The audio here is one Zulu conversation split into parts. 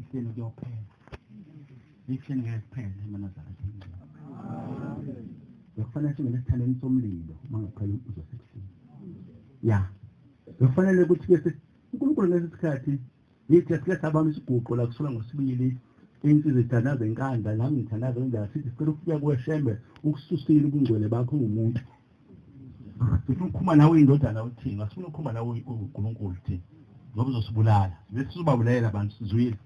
Ihlelo kuyophela. Ihlelo ngeke kuphele emanazara singcela. Bekufanele singene esithandeni somlilo uma ngaphela umbuzo sesini. Ya. Bekufanele ukuthi ke uNkulunkulu ngeke isikhathi yithi esiletha abantu isiguqo la kusola ngosibili insizwa ithandaza inkanda nami ngithandaza injalo sithi sicela ukufika kweshembe ukususile ubungcwele bakho ngumuntu sifuna ukukhuluma nawe indodana uthini asifuna ukukhuluma nawe uNkulunkulu thina ngoba uzosibulala bese sizobabulalela abantu sizwile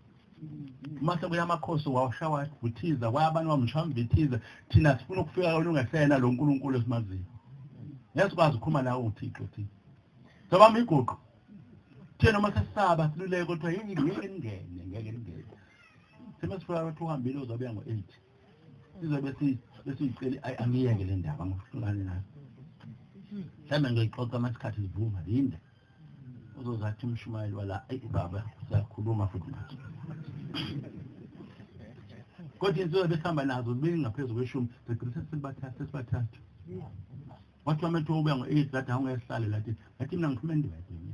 uma sekuya amakhosi wawushawa uthiza kwaya abantu bamshamba bethiza thina sifuna ukufika kona ungesena lo nkulunkulu esimaziyo ngesikwazi ukukhuluma nawe uthixo thina sobama iguqo thina uma sesisaba siluleke kuthiwa yini ngeke ningene ngeke ningene sima sifika ukuthi uhambile uzobuya ngo-eight sizobe besiyiceli ayi angiyeke le ndaba ngifungane nayo mhlawumbe ngiyoyixoxa uma isikhathi zivuma yinde uzozathi umshumayeli wala ayi baba siyakhuluma futhi manje kodwa insuku besihamba nazo ziningi ngaphezu kweshumi sigcina sesibathathu sesibathathu wathi wamethiwa ubuya ngo-eight lathi awungehlale lathi ngathi mina ngiphuma endivedeni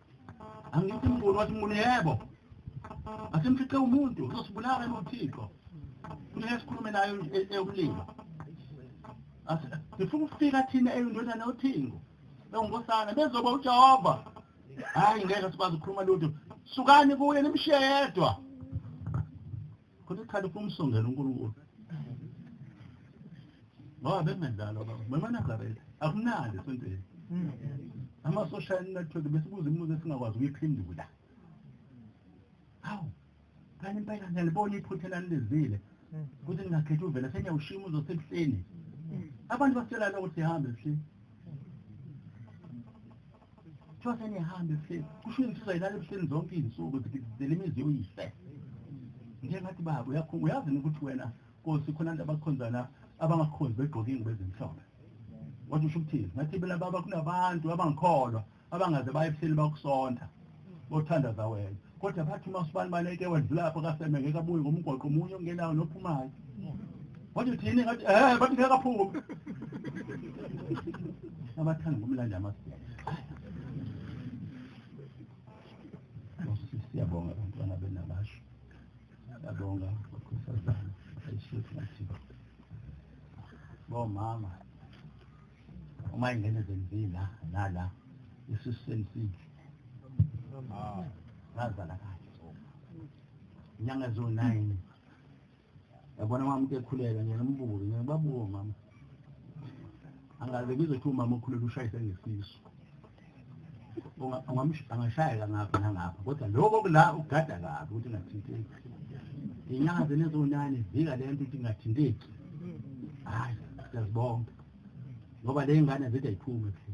angithi mnguni wathi mnguni yebo asimfice umuntu uzosibulala nothixo kumele sikhulume nayo eyokulima sifuna ukufika thina eyindodana yothingo ewunkosana bezoba ujehova hhayi ngeke sikwazi ukukhuluma lutho sukani kuye nimshiye yedwa Khona isikhathi ufuna umsongela uNkulunkulu. Ngoba bengendalo baba. BemaNazaretha akunandi esontweni. Ama-social network besibuza imibuzo esingakwazi ukuyiphendula. Hawu. Kanti impela ngiyalibona iphutha elanilizile. Ukuthi ningakhethi uvela seniyawushiya umuzi osebuhleni. Abantu basitshela lokho sihambe ebuhleni. kuthiwa senihambe ebuhleni kusho insizwa ilala ebuhleni zonke iy'nsuku zikizizela imizi yoyise nje ngathi baba uyazi ukuthi wena nkosi khona abantu abakhonzana abangakhonzi begqoke ingubo ezimhlophe kodwa usho ukuthini ngathi bela baba kunabantu abangikholwa abangaze baye ebuhleni bakusonta bothanda zawena kodwa bathi uma usibani baleke wedlula lapho kaseme ngeke abuye ngomgwaqo omunye ongenayo nophumayo wathi uthini ngathi eh bathi ngeke aphume abathanda ngomlandi amasiyana siyabonga abantwana benabasho siyabonga bakhosazana ayishefu nathi bomama uma ingene zenzila nala isisu selisidle ngazala kahle inyanga eziwu-nine yabona mama uke ekhuleka ngiyena umbuke ngiyena babuke mama angaze ngizothiwa umama okhulele ushayise ngesisu angashayeka ngapha nangapha kodwa lokho kula ugada kabi ukuthi ungathinteki inyanga zenezonani zika le nto ukuthi ingathinteki hhayi siyazibonga ngoba le ngane zide ayiphume kuhle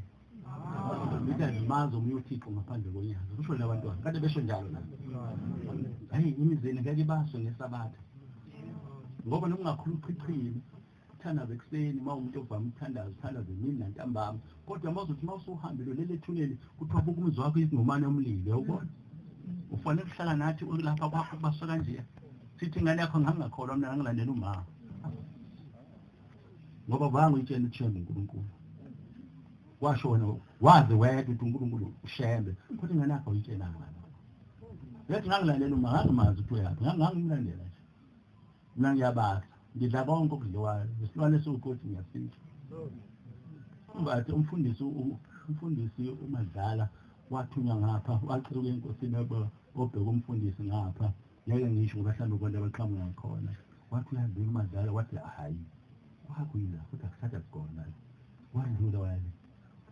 zithi azimazi omunye uthixo ngaphandle konyaka kusho labantwana kade besho njalo la hhayi imizeni ngeke ibaswe ngesabatha ngoba nokungakhulu uchichile Thandaza ekuseni uma umuntu ovama ukuthandaza uthandaza emini nantambama kodwa uma uzothi uma usuhambile ulele ethuneni kuthiwa buka umzi wakho izingomane omlile ubona ufanele ukuhlala nathi ulapha kwakho kubaswa kanjeya sithi ingane yakho ngangingakholwa mina ngangilandela umama ngoba vange uyitshela uthembe unkulunkulu washo wena wazi wedwa ukuthi unkulunkulu ushembe futhi ingane yakho uyitshelanga yathi ngangilalela uma ngangimazi ukuthi uyaphi ngangimlandela Mina ngiyabasa, ngidla konke okudliwayo, isilwane esiwukothi ngiyasidla. Umbathi umfundisi umfundisi uMadlala wathunywa ngapha waceluka enkosini obheka umfundisi ngapha ngeke ngisho ngoba hlambe konke abaqhamuka khona wathi uyazini uMadlala wathi hayi wakwila futhi akusatha kugona wadlula wale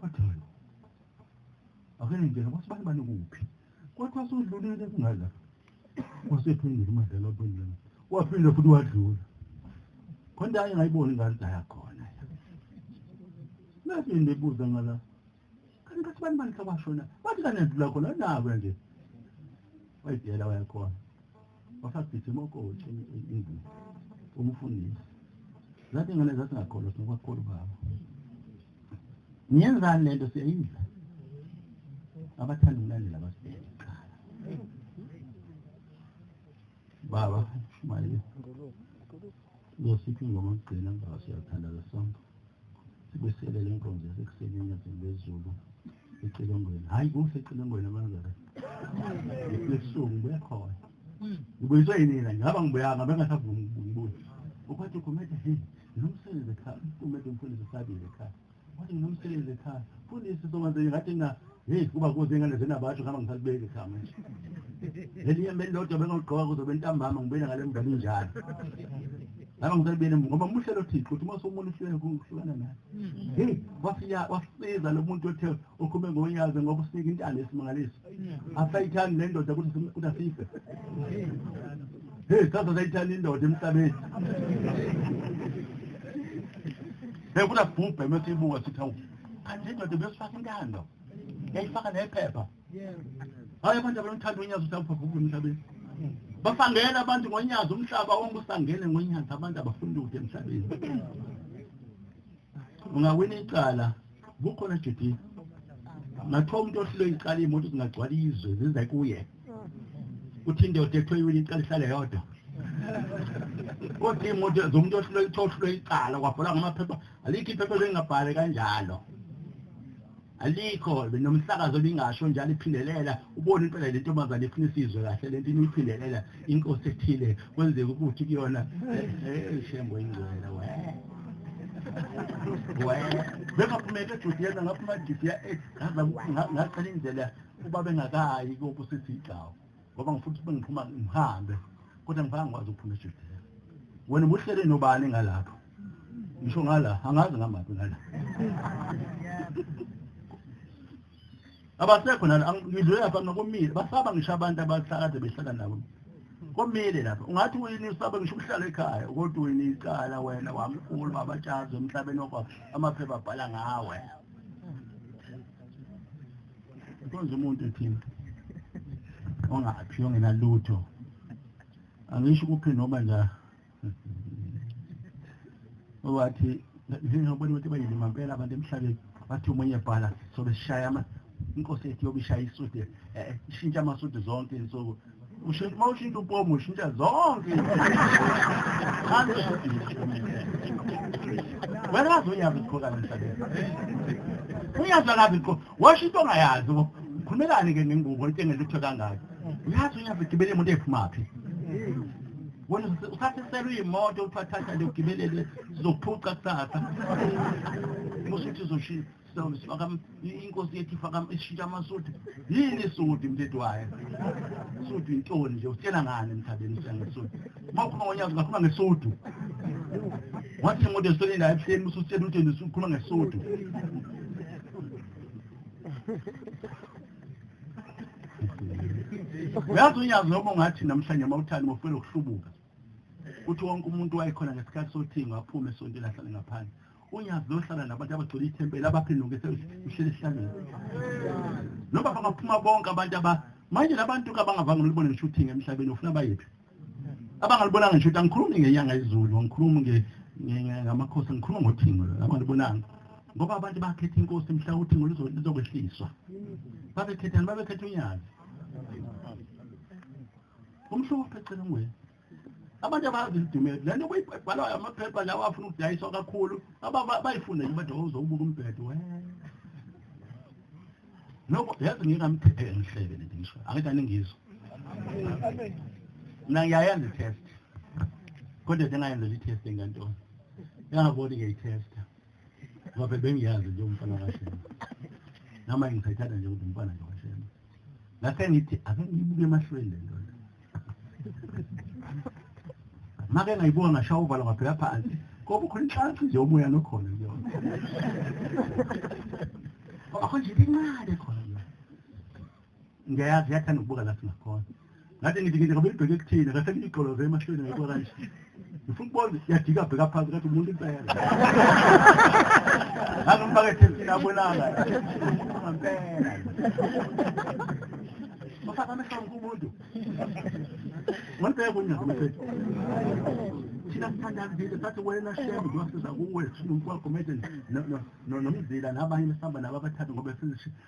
watholo akene nje ngoba sibani bani kuphi kodwa sudlulile kungaza Wasephindile uMadela waphendula. Waphinde futhi wadlula. Khona ayengayiboni ingane daya khona. Mase ndibuza ngala. Kanti kathi bani bani hlabashona. Bathi kana ndlula khona nawe nje. Wayidela wayakhona. Wasagijima okothi indlu. Umfundisi. Zathi ngane zathi ngakholwa sinobakhulu baba. Ngiyenzani lento siyayidla. Abathanda ukulandela abasibheke kuqala. Baba, shumayile. Ngosiphi ingoma kugcina baba siyathanda lesonto. Sibeselele inkonzo yasekuseni enyazini lezulu. ecilongweni hhayi kusecinongweni amanzara lesuku ngibuya khona ngibuyiswe yinina ngihamba ngibuyanga bengasavumi ngibuye ukwathi ukumede he nginomsebenzi ekhaya umede umfundisi usabile ekhaya wathi nginomsebenzi ekhaya mfundisi somanzeni ngathi na heyi kuba kuze ingane zenabatsho ngihamba ngisalibeki ekhaya manje lelinye mbe lodwa bengawugqoka kuzobe ntambama ngibuyele ngale mngane injalo ngaba ngisalibele ngoba muhle lo thixo uthi uma somuntu uhlukene kuhlukana naye Hey, wasiya wasiza lo muntu othe ukhume ngonyaze ngoba usika intana esimangaliso. Asayithani le ndoda ukuthi sim- ukuthi asife. Hey, sasa sayithani indoda emhlabeni. Hey, kuna bhubhe mesibuka sithi awu. Kanti indoda besifaka intando. Yayifaka nephepha. hayi abantu abanomthanda onyazi usabubhabhubula emhlabeni basangena abantu ngonyazi umhlaba wonke usangene ngonyazi abantu abafuni lutho emhlabeni ungawina icala kukhona judith nathiwa umuntu ohlule icala iy'moto zingagcwala izwe zize kuye kuthi indoda ethiwa iwina icala ihlale yodwa kodwa iy'moto zomuntu ohlule ithiwa ohlule icala kwabhola ngamaphepha alikho iphepha elingabhali kanjalo alikho nomsakazo lingasho njalo iphindelela ubone impela le ntombazane ifuna isizwe kahle le nto iniphindelela inkosi ethile kwenzeka ukuthi kuyona eh, eh, shembo ingcwele we we bengaphumeke ejuti yena ngaphuma ejuti yaqala indlela uba bengakayi kokusithi igcawu ngoba ngifuna ukuthi bengiphuma ngihambe kodwa ngifaka ngikwazi ukuphuma ejele wena ubuhlele nobani ngalapho ngisho ngala angazi ngamaphi ngala abasekho nalo ngidlule lapha nokomile basaba ngisho abantu abahlakade behlala nabo komile lapha ungathi wini usaba ngisho ukuhlala ekhaya kodwa wini icala wena wamkhulu babatshazi emhlabeni wakho amaphepha abhala ngawe Nkonzo umuntu ethini ongaphi ongenalutho angisho kuphi noma nja owathi ngizobona ukuthi bayini mampela abantu emhlabeni bathi umunye bhala sobe sishaya ama inkosi yethu yobishaya isudi eh, ishintsha amasudi zonke insuku ushintsha uma ushintsha upomo ushintsha zonke wena wazi unyazi liqhokana emhlabeni unyazi akazi liqho washo into ongayazi bo khulumelani-ke ngengubo into engelutho kangaki uyazi unyazi ligibele imoto ephumaphi wena usathiselwa iy'moto uthiwa thatha liyogibelele sizokuphuca kusasa musuthi uzoshintsha Sawulo sifaka inkosi yethu ifaka ishintsha amasudi yini isudi mthetho wayo isudi intoni nje utshela ngani emthabeni sengesudi uma ukhuluma ngonyaka ungakhuluma ngesudu wathi imoto esitholeni la ebuhleni usutshela ukuthi wena usukhuluma ngesudu uyazi unyazi noma ungathi namhlanje uma uthani mofela ukuhlubuka Uthi wonke umuntu wayekhona ngesikhathi sothingo aphume esontweni ahlale ngaphandle. UNyazi lohlala nabantu abagcwele ithempeli abaphenduke sehlele esihlangene. Noma bangaphuma bonke abantu aba manje labantu kabangavanga ulibone ngisho uthingo emhlabeni ufuna bayephi? Abangalibonanga ngisho ukuthi angikhulumi ngenyanga izulu, angikhulumi nge ngamakhosi ngikhuluma ngothingo abangalibonanga. Ngoba abantu bakhetha inkosi mhla uthingo lizokwehliswa. Babekhethani? Babekhetha uNyazi. Umhluko uphecela ungwenya. Abantu abazi idumeli. Lento kuyibhalwa amaphepha lawa afuna ukudayiswa kakhulu. Aba bayifunda nje bathi uzobuka umbhedo we. Nokho yazi ngingamthethe ngihleke lento ngisho. Angithi aningizwa. Amen. Mina ngiyayenza i-test. Kodwa ngingayenza i-test ngantoni? Yangabona ngiyayithesta. ngoba phela bengiyazi nje umfana kaShembe noma ngisayithanda nje ukuthi umfana nje kaShembe ngase ngithi ake ngibuke emahlweni le nto make ngayibuka ngashaya uvalo ngaphela phansi ngoba ukhona inhlansi nje umoya nokhona kuyona ngoba khona nje incane khona ngiyayazi yathanda ukubuka la singakhona ngathi ngithi ngithi ngabe libheke kuthina ngathi ngigqoloze emahlweni ngayikho kanje ngifuna ukubona yajika bheka phansi ngathi umuntu impela ngangimfaka ethesini abonanga ngampela bafaka amehlo kumuntu ngolibheka unyaka mfethu thina sithandazi vile sathi wena shembe kuyosiza kuwe nomkwakho manje nomzila nabanye besihamba nabo abathathu ngoba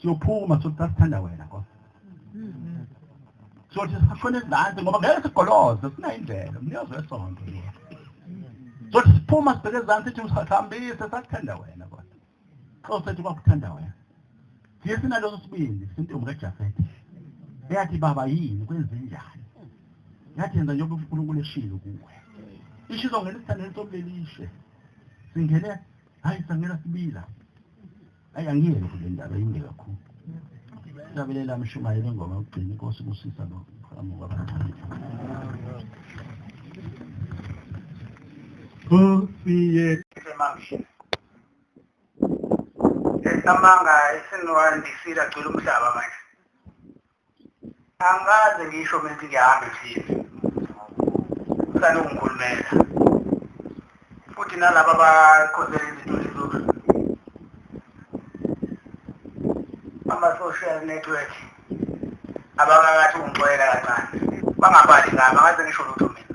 siyophuma sothi sasithanda wena nkosi sothi sishone ezansi ngoba ngeke sigoloze sina indlela umnikazi wesonto sothi siphuma sibheke ezansi sithi usahambise sasithanda wena kodwa nkosi sethu kwakuthanda wena siye sinaloso sibindi sintombi kajafete eyathi baba yini kwenzenjani yathi yenza njengoba unkulunkulu eshilo kuwe isho izongena isithandeni somlelishe singene hayi sangena sibila ayi angiyeke kule ndaba yinde kakhulu siyabelela mshumayeli engoma yokugcina inkosi kusisa lo amuka abancane Nkosi yethu semahle esamanga esinwandisile agcwele umhlaba manje angikaze ngisho mina ukuthi ngiyahambe thina usane ungikhulumela futhi nalaba abakhosela izituli zulu ama-social network abakakathi ungixoyela kancane bangabali ngami angaze ngisho lutho mina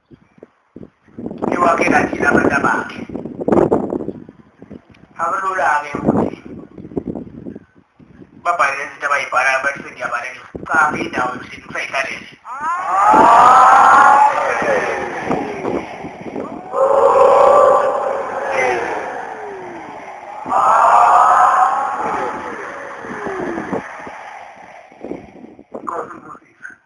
iwakhela thina abantu abakhe akulula-ke ukuthi babhale lezi zinto abayibhalayo bathi sengiyabaleka cha indawo yokuhlini kusayihlalele Thank you.